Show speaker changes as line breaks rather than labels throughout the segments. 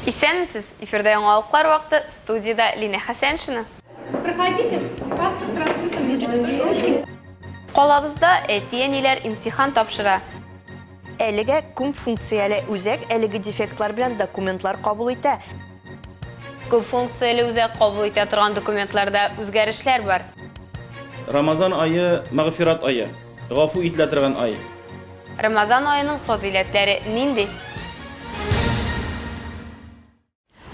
Исәнмесез! Эфирда яңалыклар вакыты, студиядә Линә Хәсәншина. Проходите,
паспорт раскрытым, Калабызда
әти-әниләр имтихан тапшыра. Әлегә
күп функцияле үзәк әлеге дефектлар белән документлар кабул итә.
Күп функцияле үзәк кабул итә торган документларда үзгәрешләр бар. Рамазан
ае, мәгъфират ае, гафу ителә торган ай. Рамазан
аеның фазыйләтләре нинди?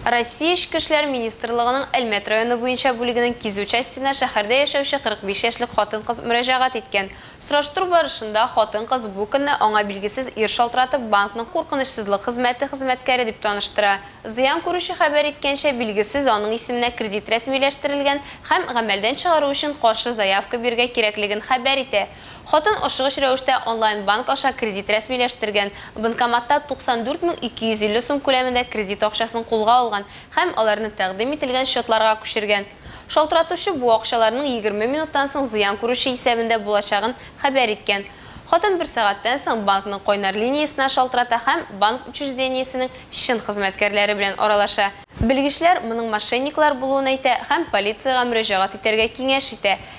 Россия Эчке эшләр министрлыгының Әлмәт районы буенча бүлегенең кизү частена шәһәрдә яшәүче 45 яшьлек хатын-кыз мөрәҗәгать иткән. Сораштыру барышында хатын-кыз бу көнне аңа билгесез ир шалтыратып, банкның куркынычсызлык хезмәте хезмәткәре дип таныштыра. Зыян күрүче хәбәр иткәнчә, билгесез аның исеменә кредит рәсмиләштерелгән һәм гамәлдән чыгару өчен каршы заявка бирергә кирәклеген хәбәр итә. Хатын ашыгыч рәвештә онлайн-банк аша кредит рәсмиләштергән, банкоматта 94 мең 250 сум күләмендә кредит акчасын кулга алган һәм аларны тәкъдим ителгән счетларга күчергән. Шалтыратучы бу акчаларның егерме минуттан соң зыян күрүче исәбендә булачагын хәбәр иткән. Хатын бер сәгатьтән соң банкның кайнар линиясенә шалтырата һәм банк учреждениесенең чын хезмәткәрләре белән аралаша. Белгечләр моның мошенниклар булуын әйтә һәм полициягә мөрәҗәгать итәргә киңәш итә.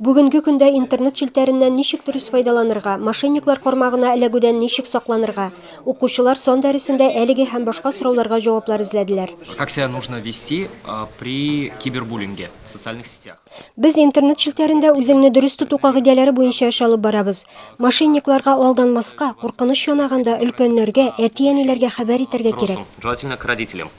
Бүгенге көндә интернет челтәреннән ничек дөрес файдаланырга, мошенниклар кармагына эләгүдән ничек сакланырга? Укучылар сан дәресендә әлеге һәм башка сорауларга җаваплар эзләделәр. Как себя нужно
вести при кибербуллинге в социальных сетях? Без интернет
челтәрендә үзеңне дөрес тоту кагыйдәләре буенча эш алып барабыз. Мошенникларга алданмаска, куркыныч янаганда, өлкәннәргә, әти-әниләргә хәбәр итәргә кирәк. Взрослым, желательно к родителям.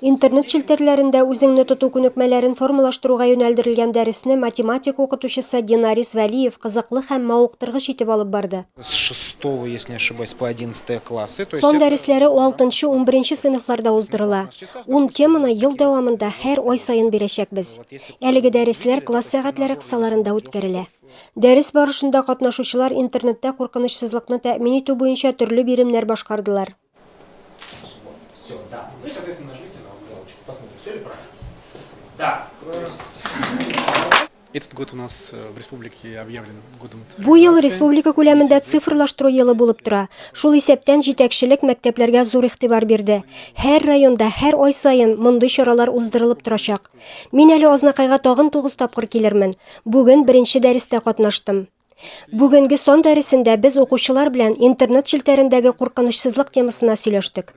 Интернет
челтәрләрендә үзеңне тоту күнекмәләрен формалаштыруга юнәлдерелгән дәресне математика укытучысы Динарис Вәлиев кызыклы һәм мавыктыргыч итеп алып барды. С шестого,
если не ошибаюсь, по одиннадцатые классы, то есть. Сан дәресләре
алтынчы, унберенче сыйныфларда уздырыла. Ун теманы ел дәвамында һәр ай саен бирәчәкбез. Әлеге дәресләр класс сәгатьләре кысаларында үткәрелә. Дәрес барышында катнашучылар интернетта куркынычсызлыкны тәэмин итү буенча төрле биремнәр башкардылар. Все,
да. Ну и, соответственно, нажмите на галочку. Посмотрим, все ли правильно. Да. Этот год у нас э, в республике объявлен годом Бу ел республика
күләмендә цифрлаштыру елы булып тора. Шул исәптән җитәкчелек мәктәпләргә зур игътибар бирде. Һәр районда, һәр ай саен мондый чаралар уздырылып торачак. Мин әле Азнакайга тагын 9 тапкыр килермен. Бүген беренче дәрестә катнаштым. Бүгенге сон дәресендә без укучылар белән интернет челтәрендәге куркынычсызлык темасына сөйләштек.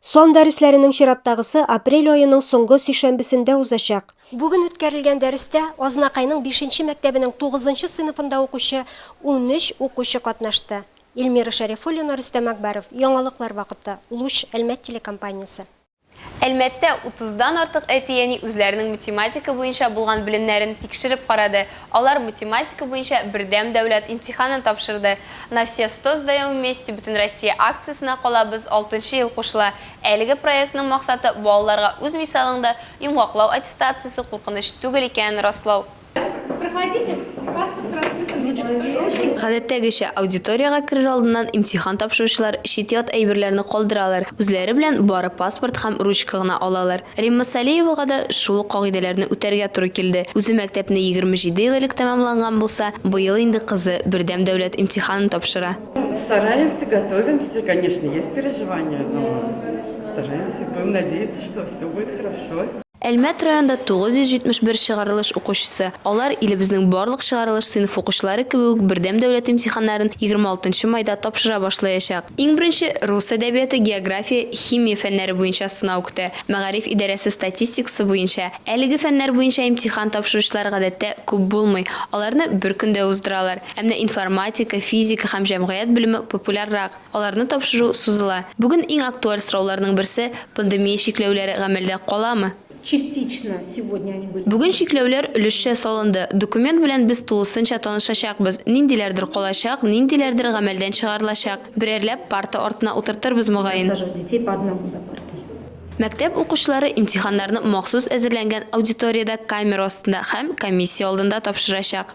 Сон
дәресләренең чираттагысы апрель аеның соңгы сишәмбесендә узачак. Бүген үткәрелгән дәрестә Азнакайның бишенче мәктәбенең тугызынчы сыйныфында укучы унөч укучы катнашты. Эльмира Шәрифуллина, Рөстәм Акбаров, Яңалыклар вакыты, Луч, Әлмәт телекомпаниясе. Әлмәттә
утыздан артык әти-әни үзләренең математика буенча булган белемнәрен тикшереп карады, алар математика буенча бердәм дәүләт имтиханын тапшырды. На все сто сдаем вместе Бөтенроссия акциясенә калабыз алтынчы ел кушыла. Әлеге проектның максаты, балаларга үз мисалыңда йомгаклау аттестациясе куркыныч түгел икәнен раслау.
Гадәттәгечә,
аудиториягә керер алдыннан имтихан тапшыручылар чит-ят әйберләрне калдыралар, үзләре белән бары паспорт һәм ручка гына алалар. Римма Салеевага да шул ук кагыйдәләрне үтәргә туры килде. Үзе мәктәпне 27 ел элек тәмамланган булса, быел инде кызы бердәм дәүләт имтиханын тапшыра. Стараемся,
готовимся, конечно, есть переживания, но стараемся, будем надеяться, что всё будет хорошо. Әлмәт
районында 971 чыгарылыш укучысы, алар, илебезнең барлык чыгарылыш сыйныф укучылары кебек үк, бердәм дәүләт имтиханнарын 26 нчы майда тапшыра башлаячак. Иң беренче, рус әдәбияты, география, химия фәннәре буенча сынау көтә. Мәгариф идарәсе статистикасы буенча, әлеге фәннәр буенча имтихан тапшыручылар гадәттә күп булмый, аларны бер көндә уздыралар. Ә менә информатика, физика һәм җәмгыять белеме популяррак. Аларны тапшыру сузыла. Бүген иң актуаль сорауларның берсе, пандемия чикләүләре гамәлдә каламы?
Бүген чикләүләр өлешчә
салынды. Документ белән без тулысынча танышачакбыз. Ниндиләрдер калачак, ниндиләрдер гамәлдән чыгарылачак. Берәрләп парта артына утыртырбыз, мөгаен.
Мәктәп
укучылары имтиханнарны махсус әзерләнгән аудиториядә камера астында һәм комиссия алдында тапшырачак.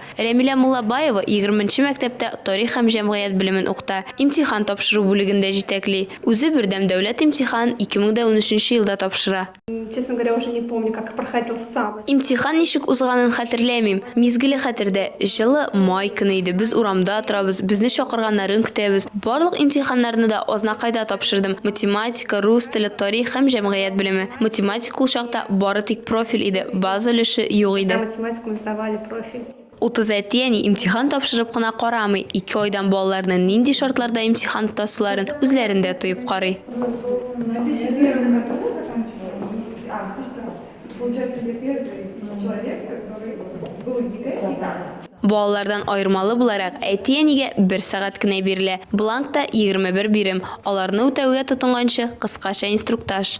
Рәмилә Муллабаева егерменче мәктәптә тарих һәм җәмгыять белемен укыта, имтихан тапшыру бүлеген дә җитәкли. Үзе бердәм дәүләт имтиханын 2013 елда тапшыра.
Имтихан ничек
узганын хәтерләмим. Мизгеле хәтердә, җылы май көне иде, без урамда торабыз, безне чакырганнарын көтәбез. Барлык имтиханнарны да Азнакайда тапшырдым, математика, рус теле, тарих һәм җәмгыять белеме. Математика ул чакта бары тик профиль иде, база өлеше юк иде.
профиль. Утыз әти-әни
имтихан тапшырып кына карамый, ике айдан балаларны нинди шартларда имтихан тотасыларын үзләрендә тоеп карый. Балалардан аермалы буларак, әти-әнигә бер сәгать кенә бирелә. Бланкта 21 бирем, аларны үтәүгә тотынганчы, кыскача инструктаж.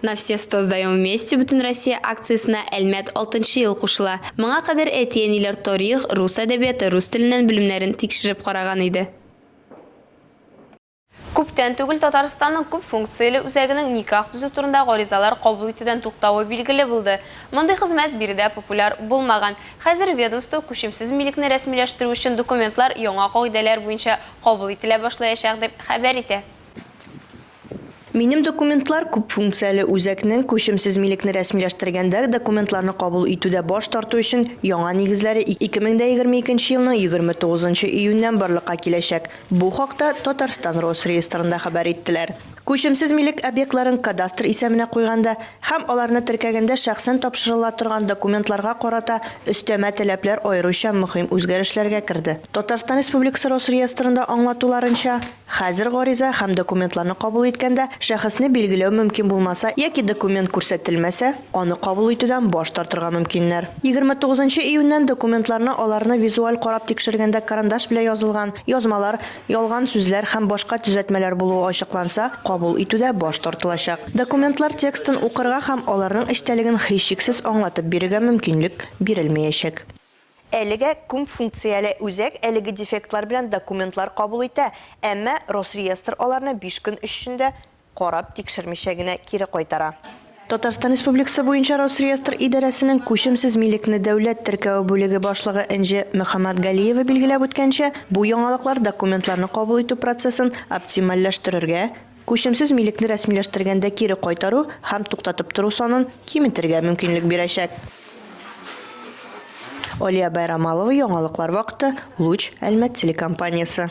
На все сто сдаем вместе Бөтенроссия акциясенә Әлмәт алтынчы ел кушыла. Моңа кадәр әти-әниләр тарих, рус әдәбияты, рус теленнән белемнәрен тикшереп караган иде. Күптән түгел Татарстанның күп функцияле үзәгенең никах төзү турында гаризалар кабул итүдән туктавы билгеле булды. Мондый хезмәт биредә популяр булмаган. Хәзер ведомство күчемсез милекне рәсмиләштерү өчен документлар яңа кагыйдәләр буенча кабул ителә башлаячак дип хәбәр итә.
Минем документлар күп функцияле үзәкнең күчемсез милекне рәсмиләштергәндә документларны кабул итүдә баш тарту өчен яңа нигезләре 2022 елның 29 нчы июньнән барлыкка киләчәк. Бу хакта Татарстан Росреестрында хәбәр иттеләр. Күчемсез милек объектларын кадастр исәменә куйганда һәм аларны теркәгәндә шәхсән тапшырыла торган документларга карата өстәмә таләпләр аеруча мөһим үзгәрешләргә керде. Татарстан Республикасы Росреестрында аңлатуларынча, хәзер гариза һәм документларны кабул иткәндә шәхесне билгеләү мөмкин булмаса яки документ күрсәтелмәсә, аны кабул итүдән баш тартырга мөмкиннәр. Егерме тугызынчы июньнән документларны аларны визуаль карап тикшергәндә карандаш белән язылган язмалар, Ялган сүзләр һәм башка төзәтмәләр булуы ачыкланса, кабул итүдә баш тартылачак. Документлар текстын укырга һәм аларның эчтәлеген һичшиксез аңлатып бирергә мөмкинлек бирелмәячәк. Әлегә күп функцияле үзәк әлеге дефектлар белән документлар кабул итә, әмма Росреестр аларны биш көн эчендә карап, тикшермичә генә кире кайтара. Татарстан Республикасы буенча Росреестр идарәсенең күчемсез милекне дәүләт теркәве бүлеге башлыгы Энҗе Мөхәммәтгалиева билгеләп үткәнчә, бу яңалыклар документларны кабул итү процессын оптимальләштерергә, күчемсез милекне рәсмиләштергәндә кире кайтару һәм туктатып тору санын киметергә мөмкинлек бирәчәк. Алия Байрамалова, яңалыклар вакыты, Луч, Әлмәт телекомпаниясе.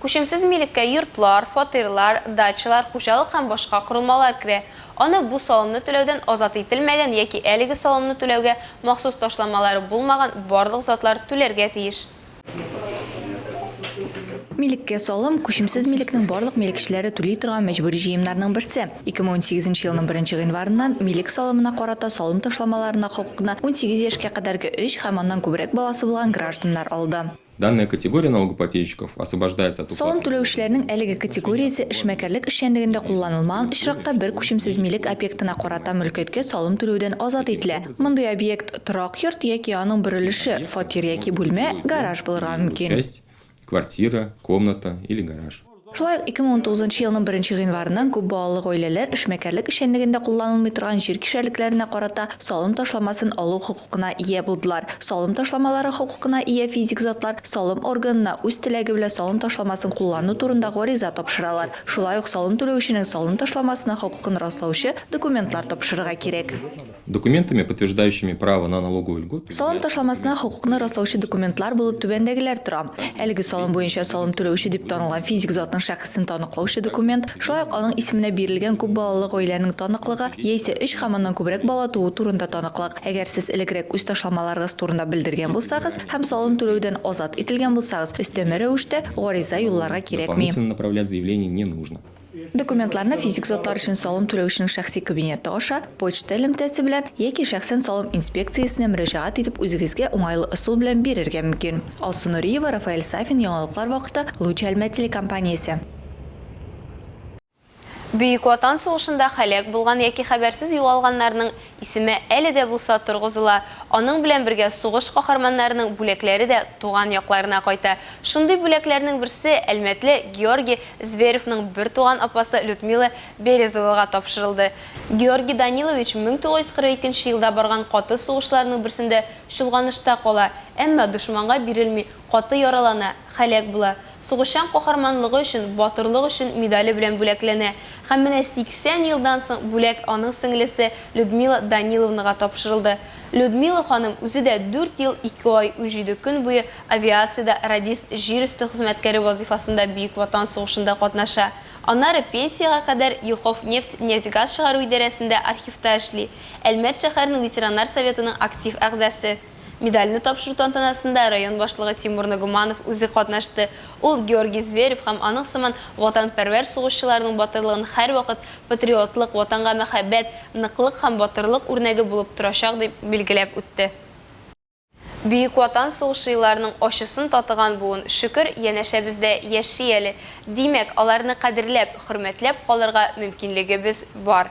Күчемсез милеккә йортлар, фатирлар, дачалар, хуҗалык һәм башка корылмалар керә. Аны бу салымны түләүдән азат ителмәгән яки әлеге салымны түләүгә махсус ташламалары булмаган барлык затлар түләргә тиеш.
Милеккә салым, күчемсез милекнең барлык милекчеләре түли торган мәҗбүри җыемнарның берсе. 2018 нче елның беренче гыйнварыннан милек салымына карата салым ташламаларына хокукны унсигез яшькә кадәрге өч һәм аннан күбрәк баласы булган гражданнар алды. Данная категория
налогоплательщиков освобождается от уплаты Салым түләүчеләрнең әлеге
категориясе эшмәкәрлек эшчәнлегендә кулланылмаган очракта бер күчемсез милек объектына карата мөлкәткә салым түләүдән азат ителә. Мондый объект торак йорт яки аның бер өлеше, фатир яки бүлмә, гараж булырга мөмкин.
Шулай ук
2019 елның беренче гыйнварыннан күп балалы гаиләләр эшмәкәрлек эшчәнлегендә кулланылмый торган җир кишәрлекләренә карата салым ташламасын алу хокукына ия булдылар. Салым ташламалары хокукына ия физик затлар салым органына үз теләге белән салым ташламасын куллану турында гариза тапшыралар. Шулай ук салым түләүченең салым ташламасына хокукын раслаучы документлар тапшырырга кирәк. Документами,
подтверждающими право на налоговую льготу, Салым ташламасына хокукны
раслаучы документлар булып түбәндәгеләр тора, әлеге салым буенча салым түләүче дип танылган физик затның шәхесен таныклаучы документ, шулай ук аның исеменә бирелгән күп балалы гаиләнең таныклыгы яисә өч һәм аннан күбрәк бала туу турында таныклык, әгәр сез элегрәк үз ташламаларыгыз турында белдергән булсагыз һәм салым түләүдән азат ителгән булсагыз, өстәмә рәвештә гариза юлларга кирәкми. Дополнительно направлять заявление
не нужно. Документларны
физик затлар өчен салым түләүченең шәхси кабинеты аша, почта элемтәсе белән яки шәхсән салым инспекциясенә мөрәҗәгать итеп үзегезгә уңайлы ысул белән бирергә мөмкин. Алсу Нуриева, Рафаэль Сафин, Яңалыклар вакыты, Луч Әлмәт телекомпаниясе.
Бөек Ватан сугышында һәлак булган яки хәбәрсез югалганнарның Исеме әле дә булса торгызыла, аның белән бергә сугыш каһарманнарының бүләкләре дә туган якларына кайта. Шундый бүләкләрнең берсе әлмәтле Георгий Зверевның бертуган апасы Людмила Березовага тапшырылды. Георгий Данилович 1942 елда барган каты сугышларның берсендә чолганышта кала, әмма дошманга бирелми, Каты яралана, һәлак була. Сугышчан каһарманлыгы өчен, батырлык өчен медале белән бүләкләнә. Һәм менә 80 елдан соң бүләк аның сеңлесе Людмила Даниловнага тапшырылды. Людмила ханым үзе дә дүрт ел, ике ай, унҗиде көн буе авиациядә радист җир өсте хезмәткәре вазыйфасында Бөек Ватан сугышында катнаша. Аннары пенсиягә кадәр Елховнефть нефть-газ чыгару идарәсендә архивта эшли, Әлмәт шәһәренең ветераннар советының актив әгъзасы. Медальне тапшыру тантанасында район башлыгы Тимур Нагуманов үзе катнашты. Ул Георгий Зверев һәм аның сыман ватанпәрвәр сугышчыларның батырлыгын һәрвакыт патриотлык, Ватанга мәхәббәт, ныклык һәм батырлык үрнәге булып торачак дип билгеләп үтте. Бөек Ватан сугышы елларының ачысын татыган буын, шөкер, янәшәбездә яши әле. Димәк, аларны кадерләп, хөрмәтләп калырга мөмкинлегебез бар.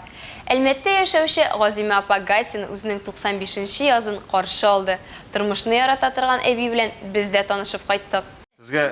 Әлмәттә яшәүче Газимә апа Гатина үзенең 95 нче язын каршы алды. Тормышны ярата торган әби белән без дә танышып кайттык. Сезгә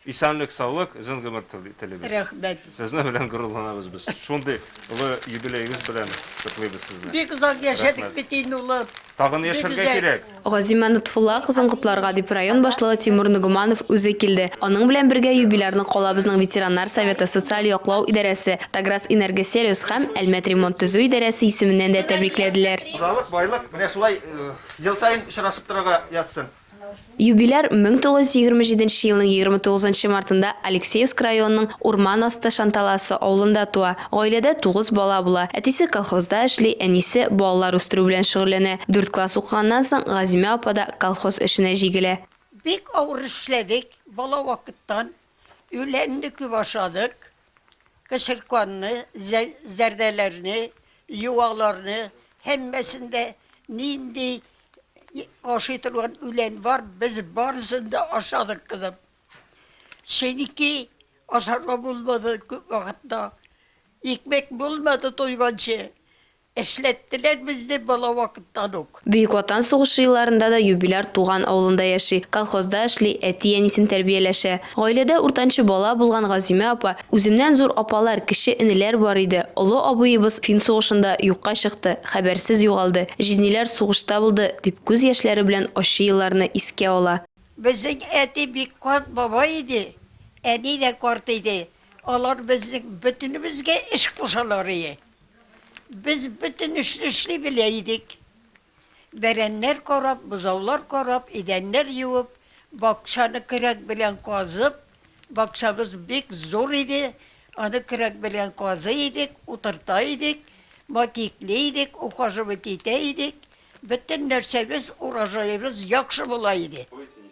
исәнлек саулык, озын гомер телибез. Рәхмәт. Сезнең
белән горурланабыз
без. Шундый олы юбилеегыз белән котлыйбыз сезне. Бик озак яшәдек
бит инде улым. Тагын яшәргә
кирәк. Газимә Нотфулла
кызын котларга дип район башлыгы Тимур Ногуманов үзе килде. Аның белән бергә юбилярны калабызның ветераннар советы, социаль яклау идарәсе, Таграс Энергосервис һәм Әлмәт ремонт-төзү идарәсе исеменнән дә тәбрикләделәр. Хуҗалык, байлык менә
шулай ел саен очрашып торырга язсын. Юбиляр
1927 елның 29 мартында Алексеевск районының Урман асты Шанталасы авылында туа. Гаиләдә тугыз бала була. Әтисе колхозда эшли, әнисе балалар үстерү белән шөгыльләнә. Дүрт класс укыганнан соң Газимә апа да колхоз эшенә җигелә. Бик авыр
эшләдек, бала вакыттан. Үлән дә күп ашадык. Кычырканны, зәрдәләрне, юаларны, һәммәсен дә, нинди ашый торган үлән бар, без барысын да ашадык, кызым. Чөнки ашарга булмады күп вакытта. Икмәк булмады туйганчы. Эшләттеләр безне бала вакыттан ук. Бөек Ватан сугышы
елларында да юбиляр туган авылында яши, колхозда эшли, әти-әнисен тәрбияләшә. Гаиләдә уртанчы бала булган Газимә апа, Үземнән зур апалар, кече энеләр бар иде. Олы абыебыз фин сугышында юкка чыкты, хәбәрсез югалды. Җизниләр сугышта булды, дип күз яшьләре белән ачы елларны искә ала. Безнең әти
бик карт бабай иде, әни дә карт иде. Алар безнең бөтенебезгә эш кушалар иде. Без бөтен эшне эшли белә идек. Бәрәннәр карап, бозаулар карап, идәннәр юып, бакчаны көрәк белән казып, бакчабыз бик зур иде, аны көрәк белән казый идек, утырта идек, матикли идек, ухаживать итә идек. Бөтен нәрсәбез, урожаебыз яхшы була иде.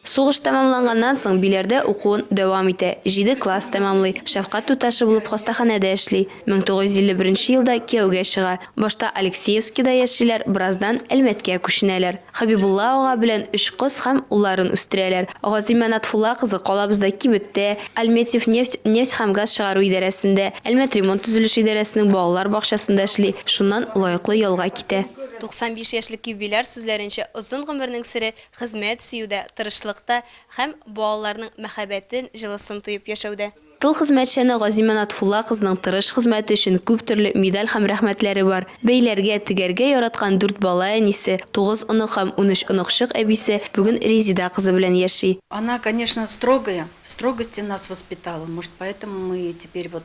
Сугыш
тәмамланганнан соң Биләрдә укуын дәвам итә, җиде класс тәмамлый, шәфкать туташы булып хастаханәдә эшли. 1951 елда кияүгә чыга. Башта Алексеевскида яшиләр, бераздан Әлмәткә күченәләр. Хәбибулла ага белән өч кыз һәм улларын үстерәләр. Газимә Натфулла кызы калабызда кибеттә, Альметьевнефть нефть һәм газ чыгару идарәсендә, Әлмәтремонт төзелеш идарәсенең балалар бакчасында эшли, шуннан лаеклы ялга китә. 95 яшьлек юбиляр сүзләренчә, озын гомернең сере, хезмәт сөюдә, тырышлыкта һәм балаларның мәхәббәтен, җылысын тоеп яшәүдә. Тыл хезмәтчәне Газимә Натфулла кызының тырыш хезмәте өчен күп төрле медаль һәм рәхмәтләре бар. Бәйләргә, тегәргә яраткан дүрт бала әнисе, тугыз онык һәм унөч оныкчык әбисе бүген Резеда кызы белән яши. Она, конечно,
строгая, в строгости нас воспитала, может, поэтому мы теперь вот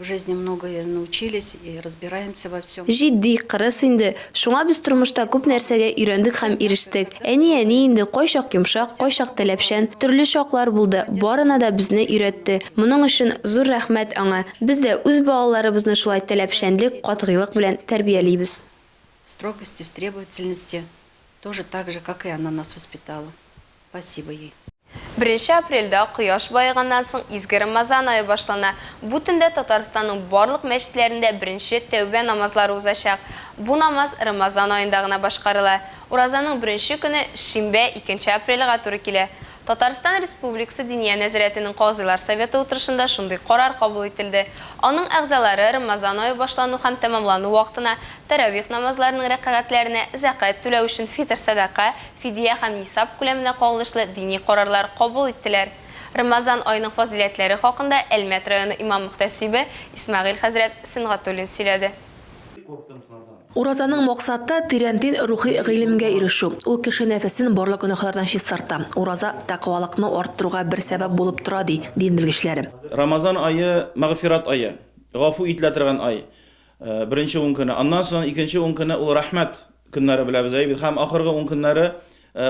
В жизни многое научились и разбираемся во всем. Җитди, кырыс инде.
Шуңа без тормышта күп нәрсәгә өйрәндек һәм ирештек. Әни әни инде, кайчак йомшак, кайчак таләпчән. Төрле чаклар булды, барына да безне өйрәтте. Моның өчен зур рәхмәт аңа. Без дә үз балаларыбызны шулай таләпчәнлек, катгыйлык белән тәрбиялибез. В строгости,
в требовательности, тоже так же, как и она нас воспитала. Спасибо ей. Беренче апрельдә
кояш баеганнан соң изге Рамазан ае башлана. Бу төндә Татарстанның барлык мәчетләрендә беренче тәүбә намазлары узачак. Бу намаз Рамазан аенда гына башкарыла. Уразаның беренче көне, шимбә, икенче апрельгә туры килә. Татарстан Республикасы Диния нәзарәтенең Казыйлар советы утырышында шундый карар кабул ителде. Аның әгъзалары Рамазан ае башлану һәм тәмамлану вакытына тәравих намазларының рәкагатьләренә зәкәт түләү өчен фитр сәдака, Фидия һәм нисаб күләменә кагылышлы дини карарлар кабул иттеләр. Рамазан аеның фазыйләтләре хакында Әлмәт районы имам-мөхтәсибе Исмәгыйль хәзрәт Сөнгатуллин сөйләде. Уразаның
максаты, тирәнтен рухи гыйлемгә ирешү. Ул кеше нәфесен барлык гөнаһлардан чистарта. Ураза тәкъвалыкны арттыруга бер сәбәп булып тора, ди дин белгечләре. Рамазан ае,
мәгъфират ае, гафу ителә торган ай. Беренче ун көне. Аннан соң икенче ун көне ул рәхмәт көннәре беләбез әйбит һәм ахыргы ун көннәре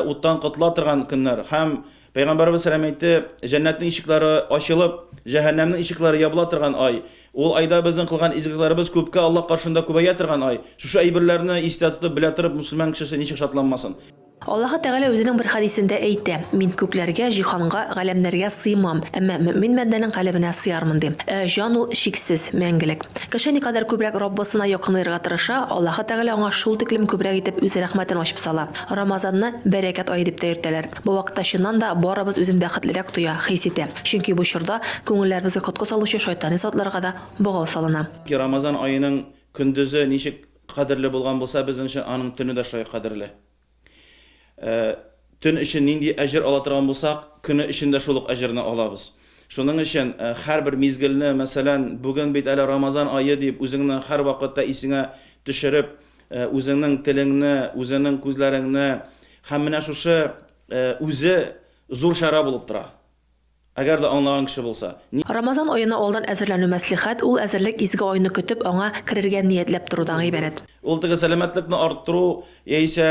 уттан котыла торган көннәр һәм Пәйгамбәребез сәлам әйтте, җәннәтнең ишекләре ачылып, җәһәннәмнең ишекләре ябыла торган ай. Ул айда безнең кылган изгелекләребез күпкә Аллаһ каршында күбәя торган ай. Шушы әйберләрне истә тотып, белә торып, мөселман кешесе ничек шатланмасын? Аллаһы Тәгалә
Үзенең бер хәдисендә әйтә, Мин күкләргә, җиһанга, галәмнәргә сыймам, әмма мөэмин бәндәнең калебенә сыярмын, ди. Ә җан ул, чиксез, мәңгелек. Кеше никадәр күбрәк Раббысына якынаерга тырыша, Аллаһы Тәгалә аңа шул тиклем күбрәк итеп Үз рәхмәтен ачып сала. Рамазанны бәрәкәт ае дип тә йөртәләр. Бу вакытта чыннан да барыбыз үзен бәхетлерәк тоя, хис итә. Чөнки бу чорда күңелләребезгә коткы салучы шайтани затларга да богау салына. Рамазан аеның
көндезе ничек Кадерле булган булса, безнең өчен аның төне дә шулай кадерле. Ә төн өчен нинди әҗер ала торган булсак, көне өчен дә шул ук әҗерне алабыз. Шуның өчен һәрбер мизгелне, мәсәлән, бүген бит әле Рамазан ае дип, үзеңне һәрвакытта исеңә төшереп, үзеңнең телеңне, үзеңнең күзләреңне һәм менә шушы үзе зур чара булып тора. Әгәр дә аңлаган кеше булса, ни. Рамазан аена
алдан әзерләнү мәслихәт, ул әзерлек изге айны көтеп, аңа керергә ниятләп торудан гыйбарәт. Ул теге сәламәтлекне
арттыру яисә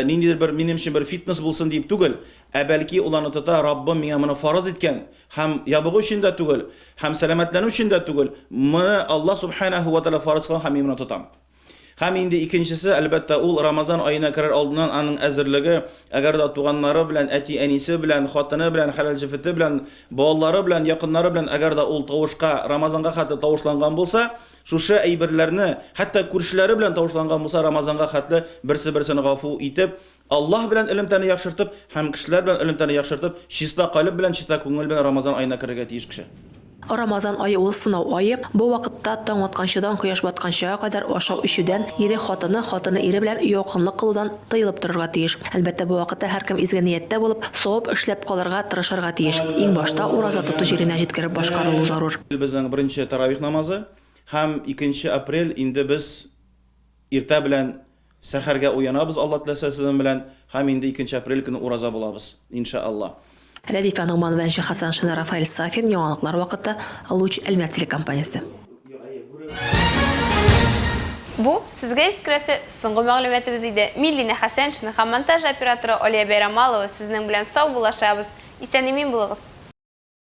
ниндидер бер минем өчен бер фитнес булсын диеп түгел, ә бәлки ул аны тота, Раббым миңа моны фарыз иткән, һәм ябыгу өчен дә түгел, һәм сәламәтләнү өчен дә түгел, моны Аллаһ Субханәһү вә Тәгалә фарыз кылган һәм мин моны тотам. Һәм инде икенчесе, әлбәттә, ул Рамазан аена керер алдыннан аның әзерлеге, әгәр дә туганнары белән, әти-әнисе белән, хатыны белән, хәләл җефете белән, балалары белән, якыннары белән, әгәр дә ул тавышка, Рамазанга хәтле тавышланган булса, шушы әйберләрне, хәтта күршеләре белән тавышланган булса, Рамазанга хәтле берсе-берсен гафу итеп, Аллаһ белән элемтәне яхшыртып һәм кешеләр белән элемтәне яхшыртып, чиста калеб белән, чиста күңел белән Рамазан аена керергә тиеш кеше. Рамазан ае
ул сынау ае, бу вакытта таң атканчыдан кояш батканчыга кадәр ашау-эчүдән, ире хатыны, хатыны ире белән якынлык кылудан тыелып торырга тиеш. Әлбәттә, бу вакытта һәркем изге нияттә булып, савап эшләп калырга тырышырга тиеш. Иң башта ураза тоту җиренә җиткереп башкарылу зарур. Безнең беренче
тәравих намазы һәм икенче апрель инде без иртә белән Сәхәргә уянабыз Алла теләсә сезнең белән һәм инде икенче апрель көне ураза булабыз, инша Алла. Рәдифә Ногман
Вәнче Хәсәншина Рафаэль Сафин Яңалыклар вакыты Луч Әлмәт телекомпаниясе. Бу,
сезгә җиткерәсе соңгы мәгълүматыбыз иде. Миллинә Хәсәншина һәм монтаж операторы Алия Бәйрамалова сезнең белән сау булашабыз. Исән-имин булыгыз!